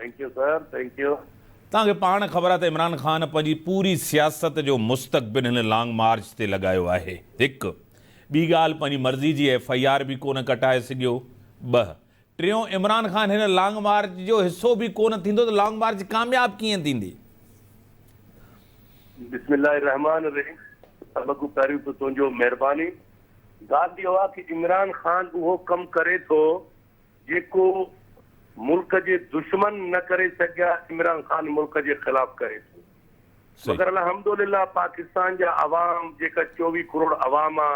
Thank you sir thank you. توهان کي پاڻ خبر آ ته عمران خان پنهنجي پوري سياست جو مستقبل هن لانگ مارچ تي لڳايو آهي هڪ ٻي ڳالهه پنهنجي مرضي جي ايف آئي آر به ڪونه ڪٽائي سگهيو ٻه ٽيون عمران خان هن لانگ مارچ جو حصو به ڪونه ٿيندو ته لانگ مارچ ڪامياب ڪيئن ٿيندي. بسم الله الرحمٰن الرحيم سڀ کان پهريون ته تنهنجو مهرباني ڳالهه اهو آ ڪي عمران خان اهو ڪم ڪري ٿو جيڪو ملڪ جي دشمن نه ڪري سگهيا عمران خان ملڪ جي خلاف ڪري ٿو مگر الحمدلله پاڪستان جا عوام جيڪا چوويهه ڪروڙ عوام آ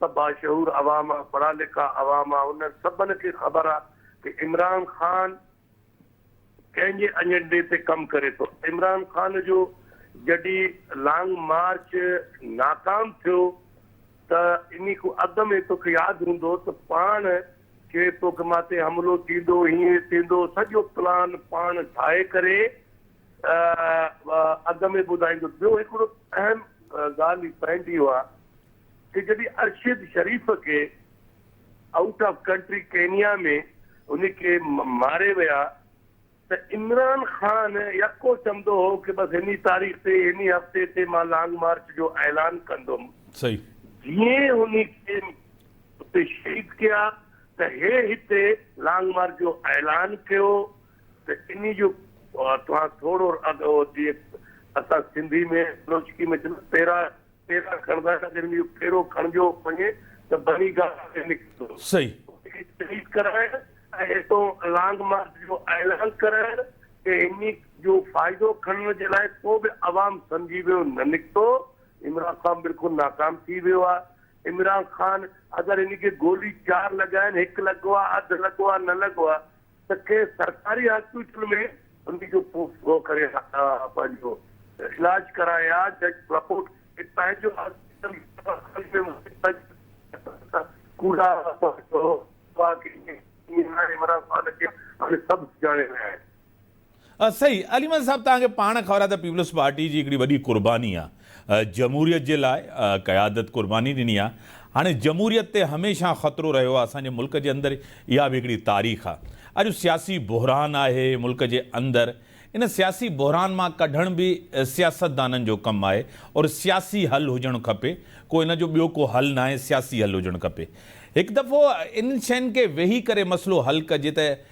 سڀ باشعور عوام آ پڙها لکا عوام آ انهن سڀن کي خبر آ ته عمران خان ڪنهن جي اجنڊي تي ڪم ڪري ٿو. عمران خان جو جڏي لانگ مارچ ناڪام ٿيو ته اني کون اڳ ۾ توکي ياد هوندو ته پاڻ کي توکي ماتي حملو ٿيندو هيئن ٿيندو سڄو پلان پاڻ ٺاهي ڪري اڳ ۾ ٻڌائيندو ٻيو هڪڙو اهم ڳالهه پوائنٽ اهو آ ڪي جڏي ارشد شريف کي آئوٽ آف ڪنٽري ڪينيا ۾ ان کي ماري ويا ته عمران خان يڪو چوندو هو ڪه بس هني تاريخ تي هني هفتي تي مان لانگ مارچ جو اعلان ڪندم جيئن هني کي اتي شهيد ڪيا ته هي هتي لانگ مارچ جو اعلان ڪيو ته اني جو توهان ٿورو اڳ جي اسان سنڌي ۾ بلوچڪي ۾ چوندا پيرا ڦيرا کڻندا ته جڏهن اهو ڦيرو کڻجيو وڃي ته بني گالا ۾ نڪرندو هو. صحيح. ان کي شهيد ڪرائڻ ۽ اتان لانگ مارچ جو اعلان ڪرائڻ ۽ انهي جو فائدو کڻڻ جي لاء ڪو به عوام سمجهي ويو نه نڪتو. عمران خان بلڪل ناڪام ٿي ويو آهي. عمران خان اگر انهي کي گولي چار لڳائين، هڪ لڳو آهي، اڌ لڳو آهي، نه لڳو آهي، ته ڪنهن سرڪاري هاسپيٽل ۾ انهي جو پورو ڪري پنهنجو علاج ڪرائين ها جج رپورٽ هي پنهنجو هاسپيٽل ڪوڙا عمران خان کي هاڻي سڀ سڃاڻي رهيا آهن. ها صحيح علي محمد صاحب توهان کي پاڻ خبر آهي ته پيپلز پارٽي جي هڪڙي وڏي قرباني آهي جمهوريت جي لاء قيادت قرباني ڏني آهي هاڻي جمهوريت تي هميشه خطرو رهيو آهي اسان جي ملڪ جي اندر اها به هڪڙي تاريخ آهي اڄ سياسي بحران آهي ملڪ جي اندر ان سياسي بحران مان ڪڍڻ به سياستدانن جو ڪم آهي اور سياسي حل هجڻ کپي ڪو ان جو ٻيو ڪو حل ناهي سياسي حل هجڻ کپي هڪ دفعو انهن شين کي ويهي ڪري مسئلو حل ڪجي ته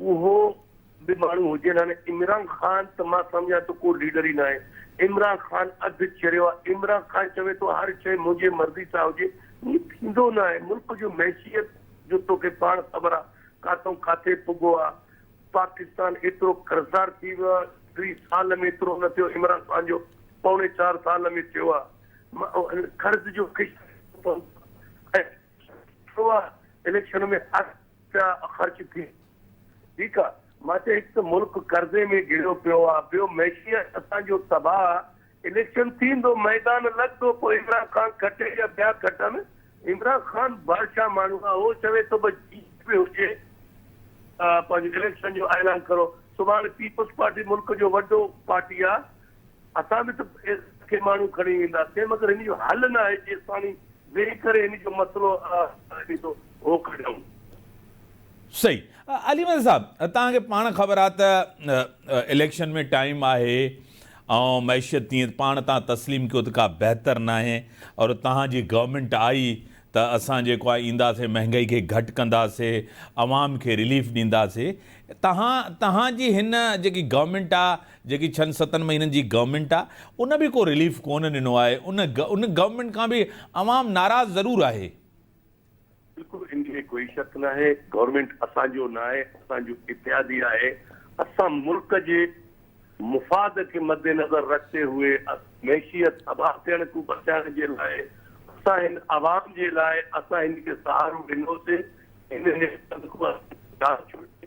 اهو به ماڻهو هجين هاڻي عمران خان ته مان سمجهان ٿو ڪو ليڊر ئي ناهي عمران خان اڌ چريو آهي عمران خان چوي ٿو هر شيء منهنجي مرضي سان هجي ائين ٿيندو ناهي ملڪ جو معشيت جو توکي پاڻ خبر آهي ڪاتئون ڪاٿي پڳو آهي پاڪستان ايترو قرضدار ٿي ويو آهي ٽي سال ۾ ايترو نه ٿيو عمران خان جو پوڻي چار سال ۾ ٿيو آهي قرض جو خشڪ ٿيو آهي اليڪشن ۾ هاري ته خرچ ٿي ٺيڪ آ مان چيو هڪ ته ملڪ قرضي ۾ گهريو پيو آ ٻيو معشيت اسان جو تباهه آ اليڪشن ٿيندو ميدان لڳندو پوء عمران خان کٽي يا ٻيا کٽن عمران خان بادشاهه ماڻهو آ هو چوي ٿو بس جيئن به هجي پنهنجو اليڪشن جو اعلان ڪرو سڀاڻي پيپلز پارٽي ملڪ جو وڏو پارٽي آ اسان به ته ان کي ماڻهو کڻي وينداسين مگر هن جو حل نه آهي جيستاڻي ويهي ڪري هن جو مسئلو اهي ٿو هو ڪڍيون. صحيح علي مير صاحب توهان کي پاڻ خبر آ ته اليڪشن ۾ ٽائيم آهي ۽ معيشت تيئن پاڻ توهان تسليم ڪيو ته ڪا بهتر ناهي اور توهان جي گورنمينٽ آئي ته اسان جيڪو آهي اينداسين مهنگائي کي گهٽ ڪنداسي عوام کي رليف ڏينداسي توهان توهان جي هن جيڪي گورنمينٽ آ جيڪي ڇھن ستن مھينن جي گورنمينٽ آ ان به ڪو رليف ڪون ڏنو آھي ان ان گورنمينٽ کان به عوام ناراض ضرور آھي. بلڪل ان ۾ ڪوئي شڪ ناھي گورنمينٽ اسان جو ناھي اسان جو اتحادي آھي اسان ملڪ جي مفاد کي مد نظر رکتي ھئي معشيت تباھ ٿيڻ کون بچائڻ جي لاء اسان ھن عوام جي لاء اسان ھن کي سھارو ڏنوسي ھن ھن سنڌ کون اسان جان ڇوڙي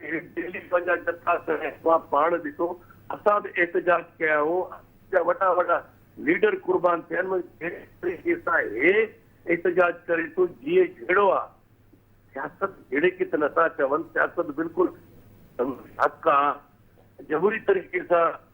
دهلي پنهنجا جٿا ته احباب پاڻ ڏسو، اسان به احتجاج ڪيا هو، اسان جا وڏا وڏا ليڊر قربان ٿيا آهن، مگر جنهن جهڙي کي سان هي احتجاج ڪري ٿو، جيئي جهڙو آ، سياست جهڙي کي ته نٿا چون، سياست بلڪل حق آ، جمهوري طريقي سان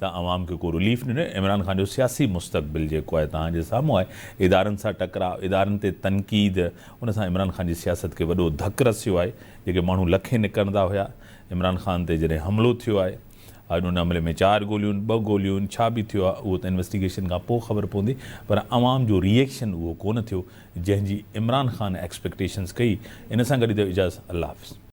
ته عوام کي ڪو رليف نه ڏنو، عمران خان جو سياسي مستقبل جيڪو آهي توهان جي سامهون آهي، ادارن سان ٽڪراء، ادارن تي تنقيد، ان سان عمران خان جي سياست کي وڏو ڌڪ رسيو آهي، جيڪي ماڻهو لکين نڪرندا هيا، عمران خان تي جڏهن حملو ٿيو آهي، اڄ ان حملي ۾ چار گوليون، ٻه گوليون، ڇا به ٿيو آهي اهو ته انويسٽيگيشن کان پوء خبر پوندي، پر عوام جو ري ايڪشن اهو ڪونه ٿيو، جنهن جي عمران خان ايڪسپيڪٽيشنز ڪئي، ان سان گڏ اجازت الله حافظ.